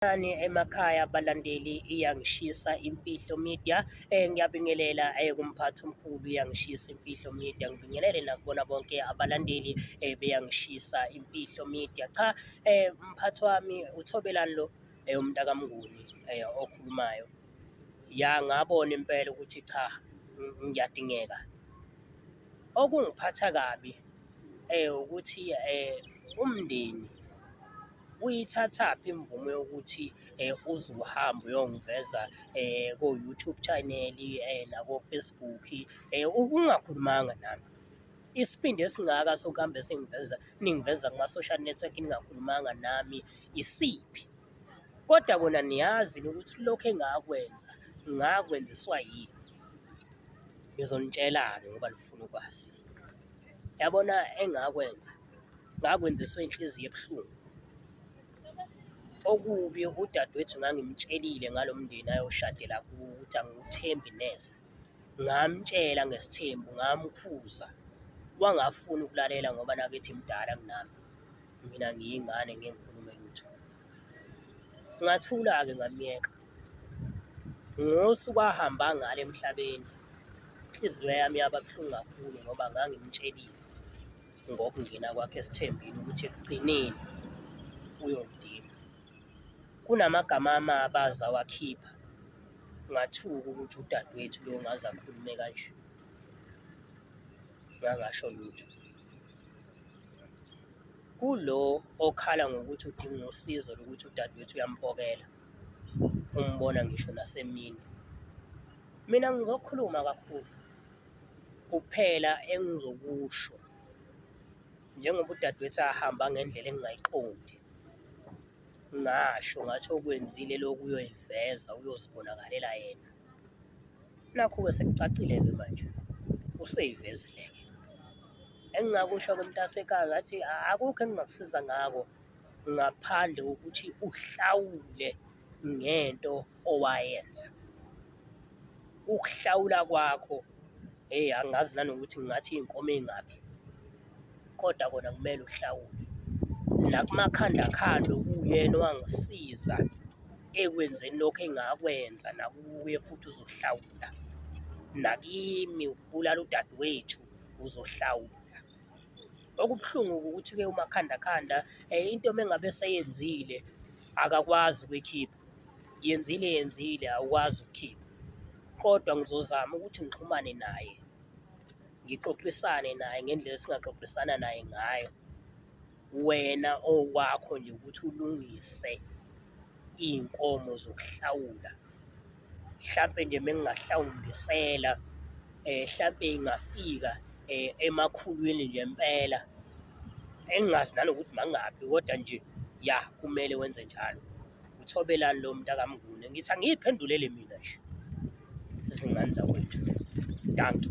Sanibonani emakhaya abalandeli iyangishisa imfihlo media eh ngiyabingelela eh kumphathi omkhulu iyangishisa imfihlo media ngibingelele nakubona bonke abalandeli eh beyangishisa imfihlo media cha eh mphathi wami uthobelani lo eh umntaka mnguni eh okhulumayo ya ngabona impela ukuthi cha ngiyadingeka okungiphatha kabi eh ukuthi eh umndeni uyithathaphi imvume yokuthi eh, uze uhambe uyongiveza eh, ko-YouTube channel eh, nako-Facebook eh, ungakhulumanga nami isibindi esingaka sokuhambe singiveza ningiveza kuma-social network ningakhulumanga nami isiphi kodwa kona niyazi ukuthi lokhu engakwenza ngakwenziswa yini ngizonitshelani ngoba nifuna ukwazi yabona engakwenza ngakwenziswa inhliziyo ebuhlungu okubi udadewethu ngangimtshelile ngalo mndeni ayoshadela kuwo ukuthi angiwuthembi neze ngamtshela ngesithembu ngamkhuza wangafuni ukulalela ngoba nakithi mdala kunami mina ngiyingane ngengikhulume lutho ngathula-ke ngamyeka ngosuku ahamba ngalo emhlabeni inhliziyo yami yaba buhlungu kakhulu ngoba ngangimtshelile ngokungena kwakhe esithembini ukuthi ekugcineni uyongidinga. Kunamagama amabaza wakhipha ngathuka ukuthi udadewethu lo ngaze akhulume kanje ngangasho lutho kulo okhala ngokuthi udinga usizo lokuthi udadewethu uyampokela umbona ngisho nasemini mina ngizokhuluma kakhulu Kuphela engizokusho njengoba udadewethu ahamba ngendlela engingayiqondi ngasho ngathi okwenzile lokhu uyoyiveza uyozibonakalela yena nakhu-ke sekucacile-ke manje useyivezile-ke engingakusho-ke mntasekhaya ngathi akukho engingakusiza ngako ngaphandle kokuthi uhlawule ngento owayenza. Ukuhlawula kwakho hheyi angazi nanokuthi ngingathi iy'nkomo ey'ngaphi kodwa kona kumele uhlawule. Nakumakhanda khanda okuwuyena owangisiza ekwenzeni lokho engakwenza nakuye futhi uzohlawula. Nakimi ukubulala udadewethu uzohlawula. Okubuhlungu ukuthi-ke umakhandakhanda um into mengabe seyenzile akakwazi ukuyikhipha, yenzile yenzile awukwazi ukukhipha. Kodwa ngizozama ukuthi ngixhumane naye, ngixoxisane naye ngendlela esingaxoxisana naye ngayo wena okwakho nje ukuthi ulungise iy'nkomo zokuhlawula hlampe nje mengingahlawumbisela um eh, hlampe ingafika um eh, emakhulwini nje mpela engingazi nanokuthi mangaphi kodwa nje ya kumele wenze njalo uthobelani lo muntu akamngune ngithi angiyiphendulele mina nje zingane zakwethu danki